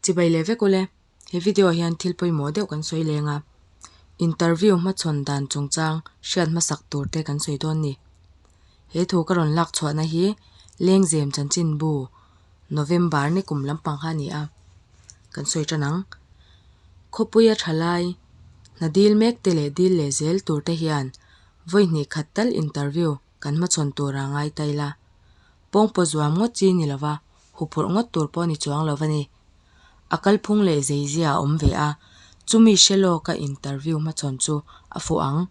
Chibai leh vek ule, he video ah hian thil pawimawh deuh kan sawi leng a, interview hmachhawn dan chungchang hriat hmasak tur te kan sawi dawn ni. He thu ka rawn lak chhuahna hi Lengzem chanchinbu November ni kum lampang kha a ni a, kan sawi tan ang. Khawpuia thalai, hna dil mek te leh dil leh zel tur te hian vawihnih khat tal interview kan hmachhawn tura ngai ta ila, pawngpawh zuam ngawt chi ni lova, huphurh ngawt tur pawh ni chuang lova ni. A kalphung leh zeizia a awm ve a, chumi hre lawka interview hmachhawn chu a fuh ang.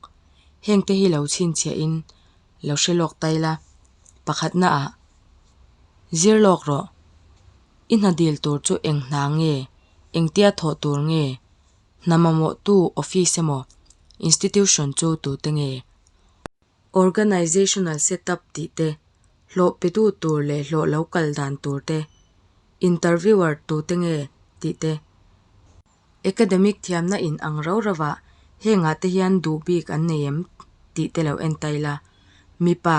Hengte hi lo chhinchhiahin lo hre lawk ta ila, pakhatnaah, Zir lawk rawh, i hna dil tur chu eng hna nge, engtia thawh tur nge? Hna mamawhtu office emaw institution chu tute nge? Organizational setup tih te, hlawhpetu tur leh hlawh lo kal dan tur te, interviewer tute nge? tih te. Academic thiamna in ang rau rauah hengah te hian duh bik an nei em? tih te lo entail a. Mipa.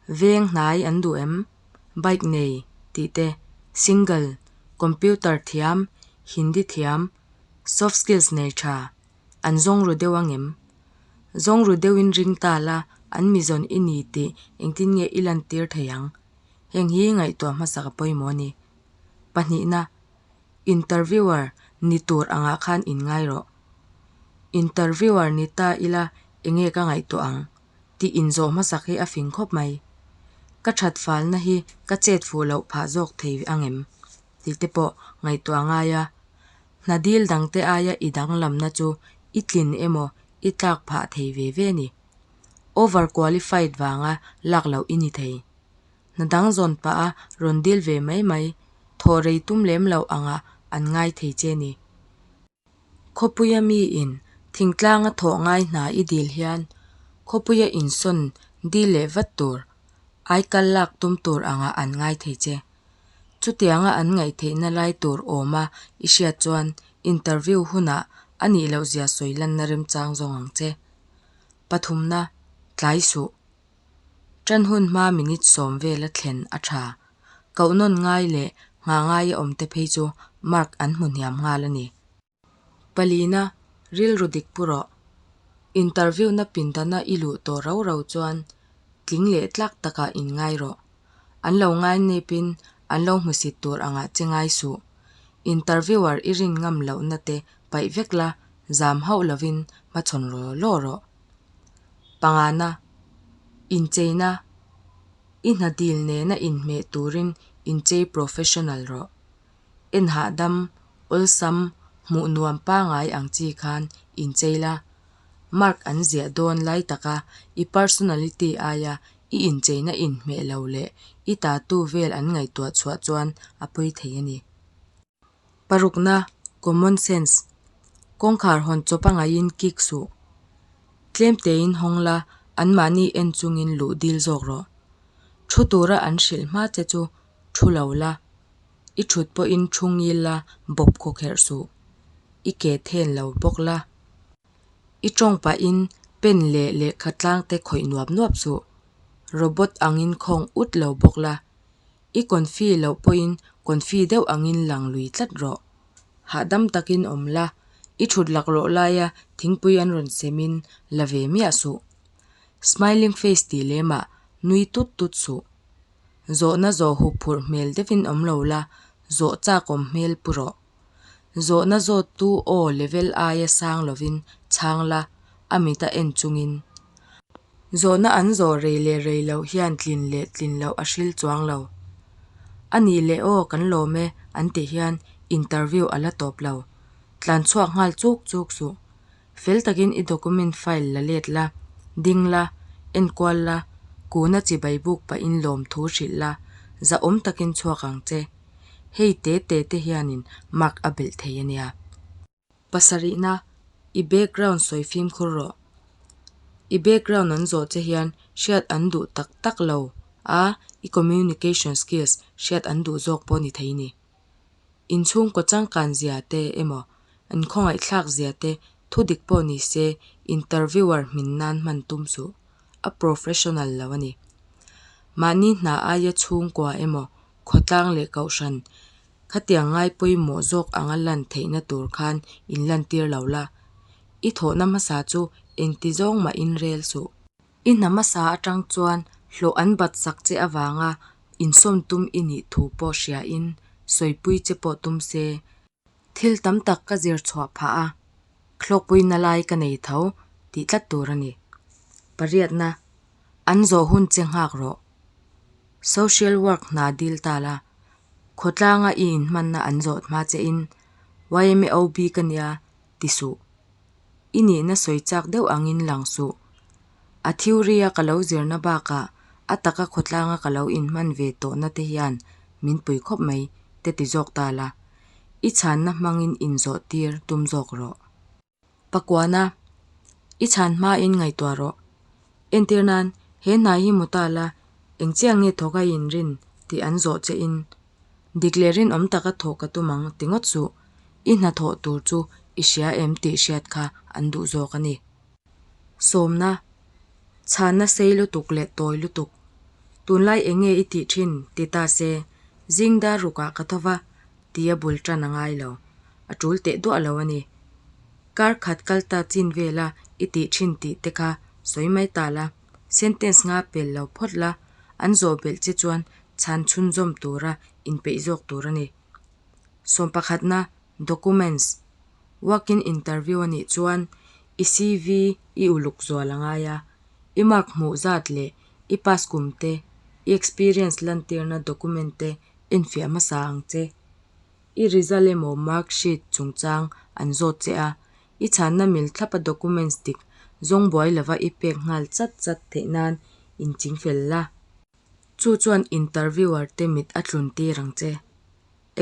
Veng hnai an duh em? Bike nei tih te, single, computer thiam, Hindi thiam, soft skills nei tha, an zawng ru deuh ang em? Zawng ru deuh in ring ta la an mi zawn i ni tih engtin nge i lantir thei ang? Heng hi ngaihtuah hmasa ka pawimawh a ni. Pahnihna, Interviewer ni tur angah khan in ngai rawh. Interviewer ni ta ila enge ka ngaihtuah ang? tih inzawh hmasak hi a fing khawp mai. Ka thatfalna hi ka chet fuh loh phah zawk thei ang em? tihte pawh ngaihtuah ngai a. Hna dil dangte aia i danglamna chu i tlin emaw i tlak phah thei ve ve ni? Over qualified vanga lak loh i ni thei. Hna dang zawn pah a rawn dil ve mai mai, thawh rei tum lem loh angah an ngai thei che ni. Khawpuia mi in thingtlang a thawh ngai hna i dil hian khawpuia insawn dil leh vat tur ai kal lak tum tur ang a an ngai thei che. Chutiang a an ngaihtheih na lai tur awm a i hriat chuan interview hun ah a nih loh zia sawi lan na remchang zawng ang che. Pathum na, tlai suh, Tanhun hma minute sawm vel a thlen a tha. Kohnawn ngai leh nghah ngai a awmte phei chu mark an hmu hniam nghal a ni. Palina, Rilru dik pu rawh. Interview-na pindana i luh tawh rau rau chuan tling leh tlak takah in ngai rawh. An lo ngai nepin an lo hmusit tur angah che ngai suh. Interviewer i rin ngam lohna te paih vek la, zam hauh lovin hmachhawn law law rawh. pangana incheina i hnadil nena inhmeh turin inchei professional rawh. En hahdam awlsam hmuh nuam pangai ang chi khan inchei la, mark an ziah dawn lai taka i personality aia i incheina inhmeh lo leh i tatu vel an ngaihtuah chhuah chuan a pui thei a ni. Parukna, common sense, kawngkhar hawn chaw pangaihin kik suh. Tlem tein hawng la, anmahni en chungin luh dil zawk rawh. Thu tura an hrilh hma che chu thu lo la, i thut pawhin thu ngil la, bawp khaw kherh suh. I ke then lo bawk la, i tawng pahin pen leh lehkha tlang te khawih nuap nuap suh. Robot angin khawng ut lo bawk la. I kawnfi loh pawhin kawnfi deuh angin lang lui tlat rawh. Hahdam takin awm la, i thut lak rawh laia thingpui an rawn semin la ve miah suh. Smiling face tih lemah nui tut tut suh. Zawhna zawh hup phurh hmel deuhin awm lo la, zawh chakawm hmel pu rawh. Zawhna zawttu aw level aia sang lovin chhang la, a mit a en chungin. Zawhna an zawh rei leh rei loh hian tlin leh tlin loh a hril chuang lo. A nih leh aw kan lawm e an tih hian interview a la tawp lo. Tlanchhuak nghal chuk chuk suh. fel takin i document file la let la, ding la, enkual la, kuna chibai buk pahin lawm thu hrilh la, zahawm takin chhuak ang che. Hei te te te hianin mark a belh thei a nia. Pasarihna, I background sawi fimkhur rawh. I background an zawh che hian hriat an duh tak tak lo a, i communication skills hriat an duh zawk pawh ni thei ni. inchhungkaw changkan zia te emaw inkhawngaihthlak zia te thudik pawh ni se interviewer hmin nan hman tum suh, a professional lo a ni. Mahni hna aia chhungkua emaw khawtlang leh kohhran khatiang ngai pawimawh zawk anga lan theihna tur khan in lantir lo la. I thawhna hmasa chu engti zawng mah in rel suh. I hnam a sa atang chuan hlawh an bat sak che avanga insawm tum i nih thu pawh hriain sawipui che pawh tum se. Thil tam tak ka zir chhuah phah a, thlawkpui na lai ka nei tho tih tlat tur a ni. Pariatna, an zawh hun che nghak rawh. Social work hna dil ta la, khawtlanga i inhmanna an zawt hma che in YMAOB ka nia ti suh. i nihna sawi chak deuh angin lang suh. A theory a ka lo zirna bakah a taka khawtlanga ka lo inhman ve tawh nate hian min pui khawp mai te ti zawk ta la, i chhanna hmangin inzawh tir tum zawk rawh. Pakuana, i chhan hmain ngaihtuah rawh. Entir nan, he hnai hi mu ta la, engchiang nge thawk a inrin tih an zawh che in Dik leh rinawm taka thawh ka tum ang tingawt suh, i hnathawh tur chu i hria em tih hriat kha an duh zawk a ni. Sawmna, Chhânna sei lutuk leh tawi lutuk. Tunlai eng nge i tih ṭhin? Ti ta se, zingdar rukah ka tho va, ti a bul ṭan a ngai lo. A ṭul teh duah lo a ni. Kar khat kal ta chin vela i tih ṭhin tih te kha sawi mai ta la. Sentence nga pel lo phawt la, an zawh belh che chuan chhan chhunzawm tura inpeih zawk tur a ni. Sawm pakhatna, Documents, Work-in interview a nih chuan i CV i uluk zual a ngai a, i mark hmuh zat leh i pass kum te, i experience lantirna document te enfiah hmasa ang che. I result emaw mark sheet chungchang an zawt che a, i chhanna mil thlapa documents dik zawng buai lova i pek nghal chat chat theih nan in ching fel la, chu chuan interviewer te mit a tlun tir ang che.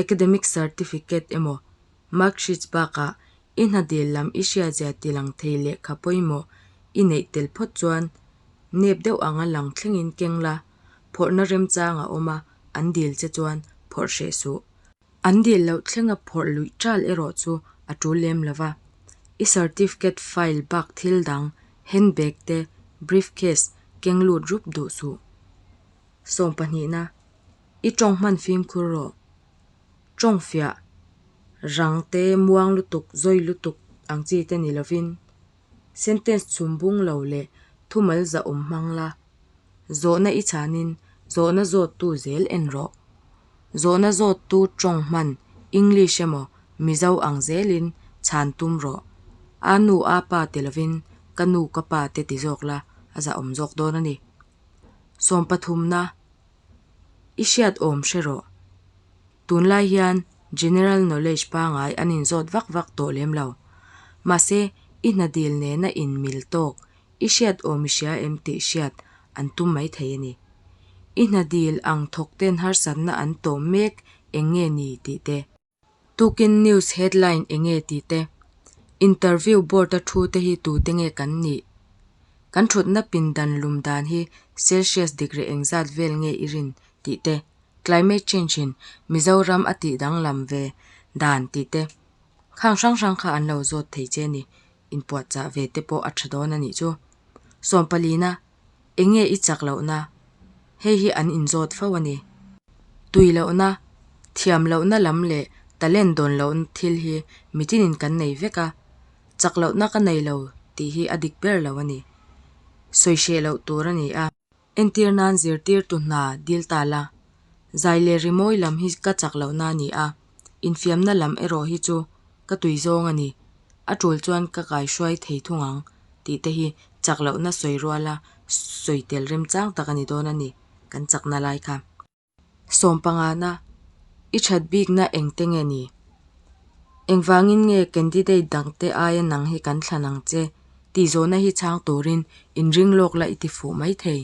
Academic certificate emaw mark sheets bakah i hna dil lam i hria zia tilang thei lehkha pawimawh i neih tel phawt chuan nep deuh anga lang thlengin keng la, Phawrhna remchang a awm a, an dil che chuan phawrh hreh suh. An dil loh thlenga phawrh luih tal erawh chu a tul lem lo va. I certificate file bak thil dang, handbag te, briefcase, keng lut rup duh suh. Sawm pahnihna, I tawng hman fimkhur rawh. Tawng fiah, rang te, muang lutuk, zawi lutuk ang chi te ni lovin Sentence chhumbung lo leh thumal zahawm hmang la. Zawhna i chhanin zawhna zawttu zel en rawh. Zawhna zawttu tawng hman English emaw Mizo ang zelin chhan tum rawh. Aa nu aa pa ti lovin ka nu ka pa te ti zawk la a zahawm zawk dawn a ni. Sawmpathumna, I hriat awm hre rawh. tunlai hian general knowledge pangai an inzawt vak vak tawh lem lo. Mahse, i hna dil nena in mil tawk, i hriat aw mi hria em tih hriat an tum mai thei a ni. I hna dil ang thawk ten harsatna an tawm mek eng nge ni tih te, tukin news headline eng nge tih te, interview board a thu te hi tu te nge kan nih, kan thutna pindan lum dan hi celsius degree eng zat vel nge i rin tih te, Climate Change in Mizoram a tih danglam ve dan tih te, khang hrang hrang kha an lo zawt thei che ni, inpuatchah ve te pawh a tha dawn a nih chu. Sawmpalina, eng nge i chak lohna, hei hi an inzawt fo a ni. Tui lohna, thiam lohna lam leh talent dawn loh thil hi mitin in kan nei vek a, chak lohna ka nei lo tih hi a dik ber lo a ni, sawi hreh loh tur a ni a. Entir nan zirtirtu hna dil ta la, zai leh rimawi lam hi ka chak loh na ni a, infiamna lam erawh hi chu ka tui zawng a ni, a tul chuan ka kai hruai thei thung ang tih te hi chak lohna sawi ruala sawi tel remchang tak a ni dawn a ni kan chakna lai kha. Sawmpangana i that bikna engte nge ni? Engvangin nge candidate dangte aia nang hi kan thlan ang che tihzawhna hi chhang turin inring lawk la i tifuh mai thei?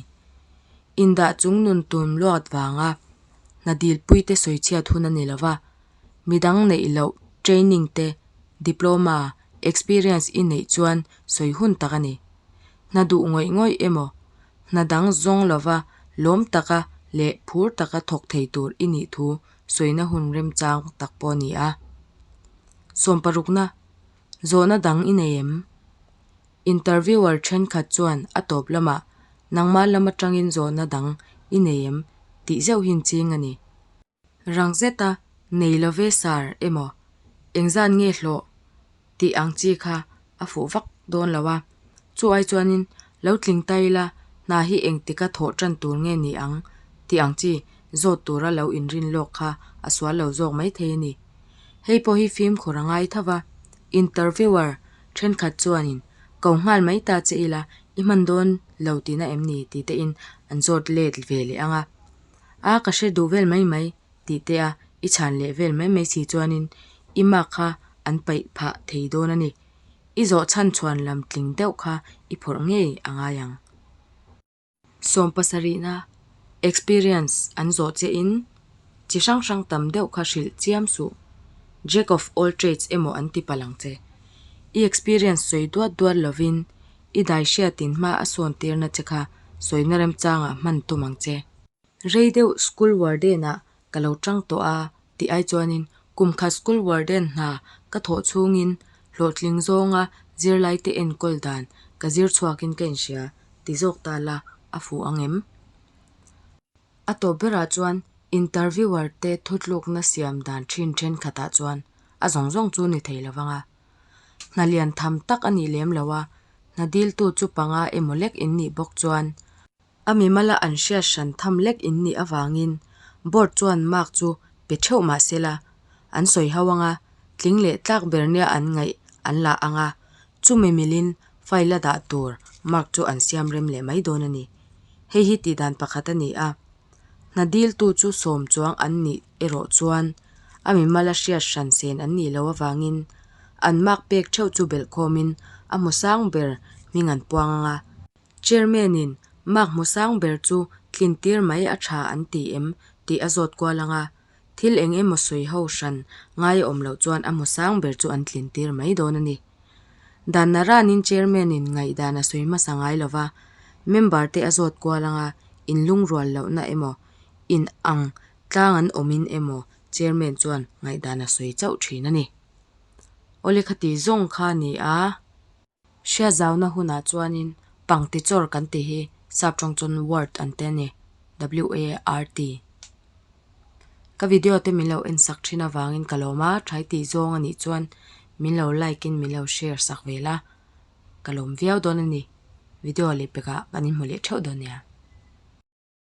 Indah chung nun tum luat vanga hna dilpuite sawi chhiat hun a ni lova, midang neih loh training te, diploma, experience i neih chuan sawi hun tak a ni. Hna duh ngawih ngawih emaw hna dang zawng lova, lawm taka leh phur taka thawk thei tur i nih thu sawina hun remchang tak pawh a ni a. Sawm parukna zawhna dang i nei em? Interviewer thenkhat chuan a tawp lamah, Nangma lam atangin zawhna dang i nei em? tih zeuh hi inching a ni. Rang zeta nei lo ve sir emaw, engzan nge hlawh tih ang chi kha a fuh vak dawn lo a, chuai chuanin lo tling ta ila hna hi engtika thawh tan tur nge ni ang tih ang chi zawt tura lo inrin lawk kha a sual lo zawk maithei a ni. Hei pawh hi fimkhur a ngai thova, interviewer thenkhat chuanin ko nghal mai ta che ila i hman dawn lo tina em ni titein an zawt let ve leh ang a, A ka hre duh vel mai mai tih te a i chhan leh vel mai mai si chuanin i mark kha an paih phah thei dawn a ni. I zawh chhan chuan lam tling deuh kha i phawrh ngei a ngai ang. Sawm pasarihna, experience, an zawh che in chi hrang hrang tam deuh kha hrilh chiam suh, jack of all trades emaw an tip a lang che. I experience sawi duat duat lovin i daihriat in hma a sawn tirna che kha sawina remchang ah hman tum ang che. Rei deuh school warden ah ka lo tang tawh a tih ai chuanin kum khat school warden hna ka thawh chhung in hlawhtling zawng a zirlai te enkawl dan ka zir chhuak in ka inhria ti zawk ta la a fuh ang em? A tawp ber ah chuan interviewer te thutluk na siam dan thin thenkhat ah chuan a zawng zawng chu ni thei lo vang a. Hna lian tham tak a nih lem lo a, hna diltu chu panga emaw lek in nih bawk chuan a mimala an hriat hran tham lek in nih avangin Board chuan mark chu pe theuh mah sela an sawi ho ang a, tling leh tlak ber nia an ngaih an la ang a, chumi milin file a dah tur mark chu an siam rem leh mai dawn a ni. Hei hi tihdan pakhat a ni a. Hna diltu chu sawm chuang an nih erawh chuan a mimal a hriat hran sen an nih loh avangin an mak pek theuh chu belh khawmin a hmu sang ber hming an puang ang a. Chairman-in mak hmu sang ber chu tlintir mai a tha an ti em? tih a zawt kual ang a. Thil eng emaw sawi ho hran ngai awm loh chuan a hmu sang ber chu an tlintir mai dawn a ni. Dan Naranin Chairman-in ngaihdan a sawi hmasa ngai lo va, member-te a zawt kual anga in lungrual lohna emaw, in ang tlang an awmin emaw Chairman chuan ngaihdan a sawi chauh thin a ni. Awle khati zawng kha a ni a. Hriatzauna hunah chuanin pangtichawr kan tih hi sap tawng chuan word an ti a ni, WART. Ka video te min lo en sak thin avangin ka lawm a, thai tih zawng a nih chuan min lo like in min lo share sak ve la, ka lawm viau dawn a ni. Video leh pekah kan inhmu leh theuh dawn nia.